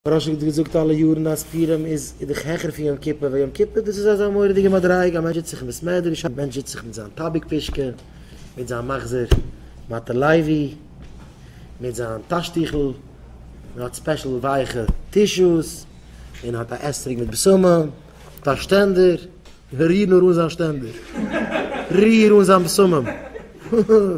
רשי האט געזאגט אלע יארן אז פורים איז דאך העכער פון יום כיפור, ווייל יום כיפור דאס איז אזא מורא'דיגע מדריגה, א מענטש זיצט זיך אין בית מדרש, א מענטש זיצט זיך מיט זיין טאביק פישקע, מיט זיין מחזור מטה לוי, מיט זיין טאשטיכל, מען האט ספעשל ווייכע טישוס, מען האט א אתרוג מיט בשמים, מען האט א שטענדער, ריר נאר אן זיין שטענדער, ריר אן זיין בשמים, הא הא.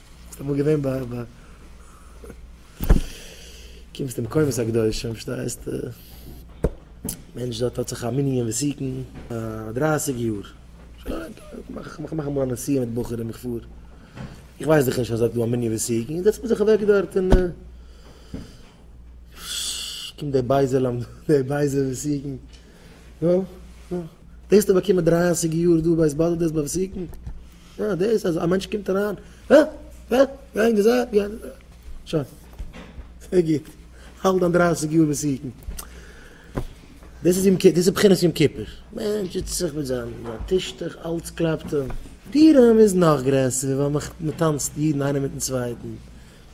ביסט אמאל געווען ביי א קומסט אין מקומות הקדושים פארשטייסט מענטש דארט האט זיך א מנין וואס סוכם פאר דרייסיג יאר איך מאך אמאל א נסיעה מיט בחורים איך פאר איך ווייס דאך נישט אז דארט איז דא א מנין וואס סוכם איך זעץ מיר זיך אוועק דארט און קומט דער בייזער די בייזער וואס סוכם נאך, נאך. דאס טו באקומען דרייסיג יאר דא בית באדעלט דאס באפסיקן? אה, דאס אז א מענטש קומט אריין, אה, אה, גיי אין די זייט, גיי אין די זייט. שוין. זייער גוט. האלט דיין דרייסיג יאר מסוכן. דאס איז יום כיפור, דאס איז בחינת יום כיפור. מענטש זיצט זיך מיט זיין טישטוך, אלץ קלאפט אים. פורים איז נאך גרעסער, ווייל מ'טאנצט אידן איינער מיט'ן צווייטן.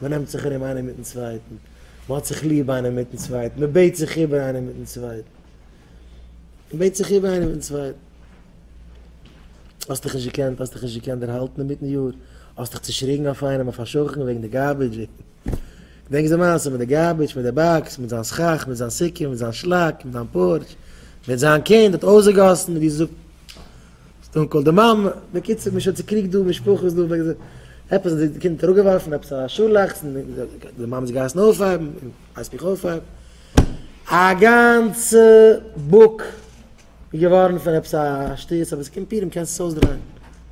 מען נעמט זיך ארום איינער מיטן צווייטן, מען האט זיך ליב איינער מיטן צווייטן, מען בעט זיך איבער איינער מיטן צווייטן, מען בעט זיך איבער איינער מיטן צווייטן. האסט דיך נישט געקענט, האסט דיך נישט געקענט דערהאלטן אינמיטן יאר, האסט דיך צעשריגן אויף איינעם, אויף א שכן וועגן די גארבידזש, געדענקסט די מעשה מיט די גארבידזש, מיט די באקס, מיט זיין סכך, מיט זיין סוכה, מיט זיין שלאק, מיט זיין פארטש, מיט זיין קינד האט אויסגעגאסן, ווי זאגט. סטאון קאלד די מאמע, בקיצור מען איז שוין צוקריגט דא, משפחות דא, עפעס האט די קינד אראפגעווארפן, עפעס א שאלאכטס, און די מאמע האט זיך געהייסן אויפהייבן, און הייסט מיך אויפהייבן, א גאנצע בוק איז געווארן פון עפעס א שטות, אבער ס'קומט פיר און מ'קען עס אויסדרייען.